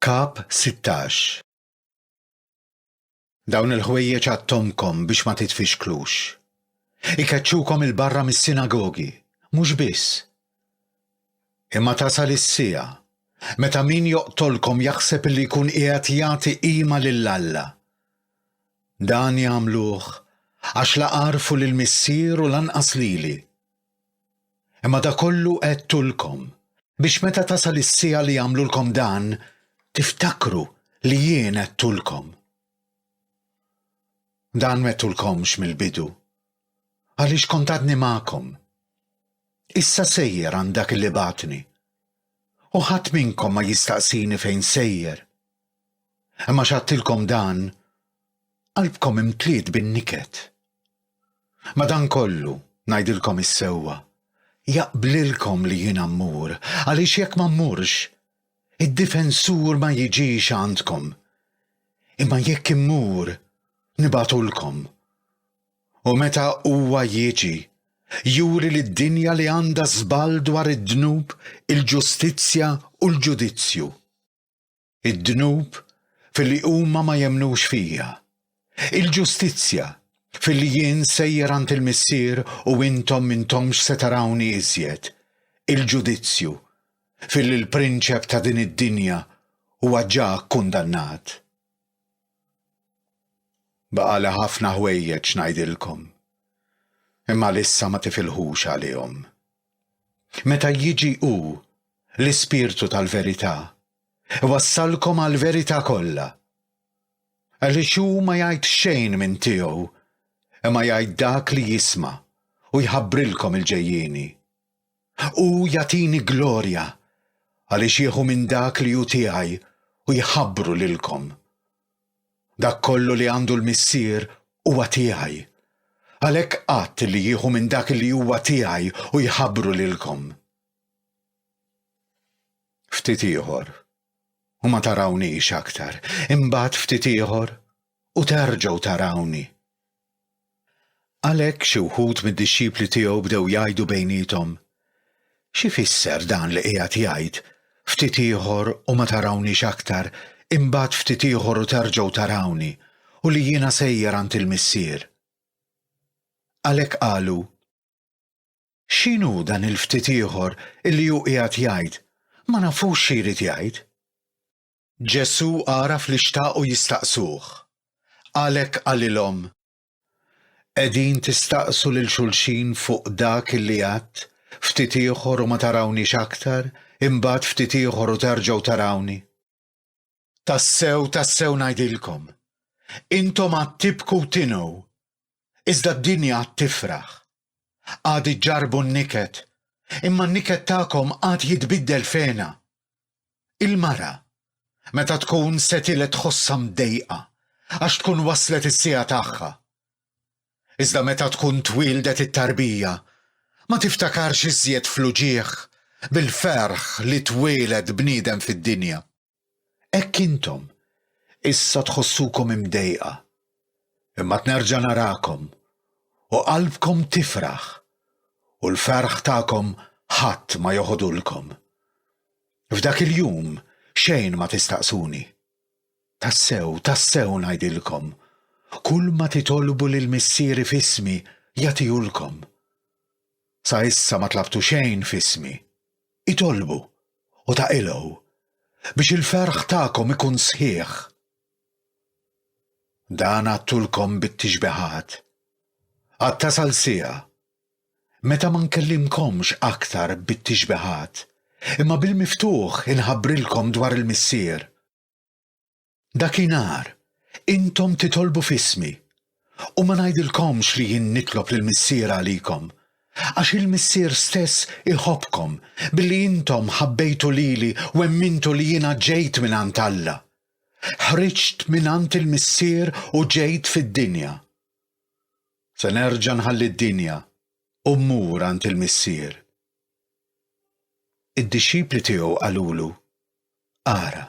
Kap 16 Dawn il-ħwejjeġ għattomkom biex ma titfixklux. Ikeċċukom il-barra mis-sinagogi, mhux biss. Imma tasal is-siegħa meta min joqtolkom jaħseb li jkun qiegħed jagħti qima lil Alla. Dan jagħmluh għax la għarfu lill-Missier u lanqas lili. Imma da kollu għedtulkom, biex meta tasal is-siegħa li jagħmlulkom dan, tiftakru li jien għedtulkom. Dan m'għedtulkomx mill-bidu, għaliex kont għadni magħkom. Issa sejjer għand dak li bagħatni. U ħadd minnkom ma jistaqsini fejn sejjer. Imma x'għadtilkom dan, qalbkom imtliet bin-niket. Madankollu, ngħidilkom is-sewwa, jaqblilkom li jiena mmur, għaliex jekk ma mmurx, id-Difensur ma jiġix għandkom. Imma jekk immur, nibgħatulkom. U meta huwa jiġi, juri lid-dinja li għandha żball dwar id-dnub, il-ġustizzja u l-ġudizzju. id-dnub filli huma ma jemmnux fija, il-ġustizzja filli jien sejjer għand il-Missier u intom m'intomx se tarawni iżjed, il-ġudizzju filli l-prinċep ta' din id-dinja huwa ġa kkundannat. Baqali ħafna ħwejjeġ ngħidilkom, imma għalissa ma tifilħux għalihom. Meta jiġi Hu, l-Ispirtu tal-verità, iwassalkom għall-verità kollha. Għaliex Hu ma jgħid xejn minn tiegħu, imma jgħid dak li jisma' u jħabbrilkom il-ġejjieni. Hu jagħtini glorja, għaliex jieħu minn dak li hu tiegħi u jħabbru lilkom. Dak kollu li għandu l-Missier huwa tiegħi. Għalhekk għadt li jieħu minn dak li huwa tiegħi u jħabbru lilkom. Ftit ieħor, u ma tarawniex aktar, imbagħad ftit ieħor, u terġgħu tarawni. Għalhekk xi wħud mid-dixxipli tiegħu bdew jgħidu bejniethom, X'ifisser dan li qiegħed jgħid, 'Ftit ieħor u ma tarawniex aktar, imbagħad ftit ieħor u terġgħu tarawni, u li jiena sejjer għand il-Missier'? Għalhekk qalu, X'inhu dan il-ftit ieħor illi hu qiegħed jgħid, ma nafux xi jrid jgħid? Ġesù għaraf li xtaqu jistaqsuh, għalhekk qalilhom, Qegħdin tistaqsu lil xulxin fuq dak li għadt, 'Ftit ieħor u ma tarawniex aktar, imbagħad ftit ieħor u terġgħu tarawni'? Tassew, tassew ngħidilkom, intom għad tibku u tinhu, Iżda d-dinja għad tifraħ. Għad iġġarbu n-niket, imma n-niket tagħkom għad jitbiddel f'hena. Il-mara, meta tkun se tiled tħossha mdejqa għax tkun waslet is-siegħa tagħha. Iżda meta tkun twieldet it-tarbija, ma tiftakarx iżjed fl-uġigħ bil-ferħ li twieled bniedem fid-dinja. Hekk intom issa tħossukom imdejqa, imma nerġa' narakom u qalbkom tifraħ u l-ferħ tagħkom ħadd ma joħodulkom. F'dak il-jum xejn ma tistaqsuni. Tassew, tassew ngħidilkom, kulma titolbu lil Missieri f'ismi jagħtihulkom. Sa issa ma tlabtu xejn f'ismi. Itolbu, u taqilgħu, biex il-ferħ tagħkom ikun sħiħ. Dan għadtulkom bit-tixbihat, għad tasal siegħa, meta ma nkellimkomx aktar bit-tixbihat, imma bil-miftuħ inħabbrilkom dwar il-Missier. Dakinhar, intom titolbu f'ismi, u ma ngħidilkomx li jien nitlob lill-Missier għalikom, għax il-Missier stess iħobbkom billi intom ħabbejtu lili u emmintu li jiena ġejt mingħand Alla. Ħriġt mingħand il-Missier u ġejt fid-dinja. Se nerġa' nħalli d-dinja u mmur għand il-Missier. Id-dixxipli tiegħu qalulu, Ara,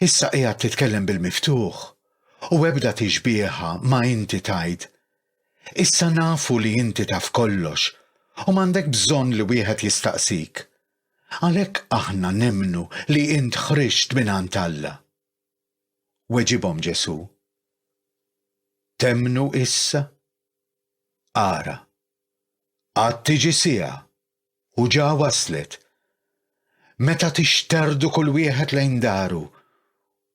issa qiegħed titkellem bil-miftuħ, u ebda tixbieha ma inti tgħid. Issa nafu li inti taf kollox u m'għandek bżonn li wieħed jistaqsik. Għalhekk aħna nemmnu li int ħriġt mingħand Alla. Weġibhom Ġesù. Temmnu issa? Ara, għad tiġi siegħa U ġa waslet. Meta tixterdu kull wieħed lejn daru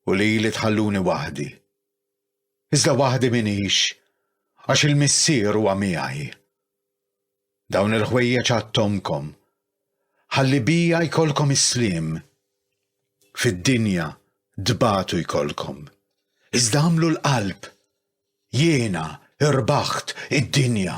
u lili tħalluni waħdi. Iżda waħdi minix għax il-Missier huwa miegħi. Dawn il-ħwejjeġ għattomkom ħalli bija jkollkom is-sliem. Fid-dinja dbatu jkollkom. Iżda għamlu l-qalb Jiena rbaħt id-dinja.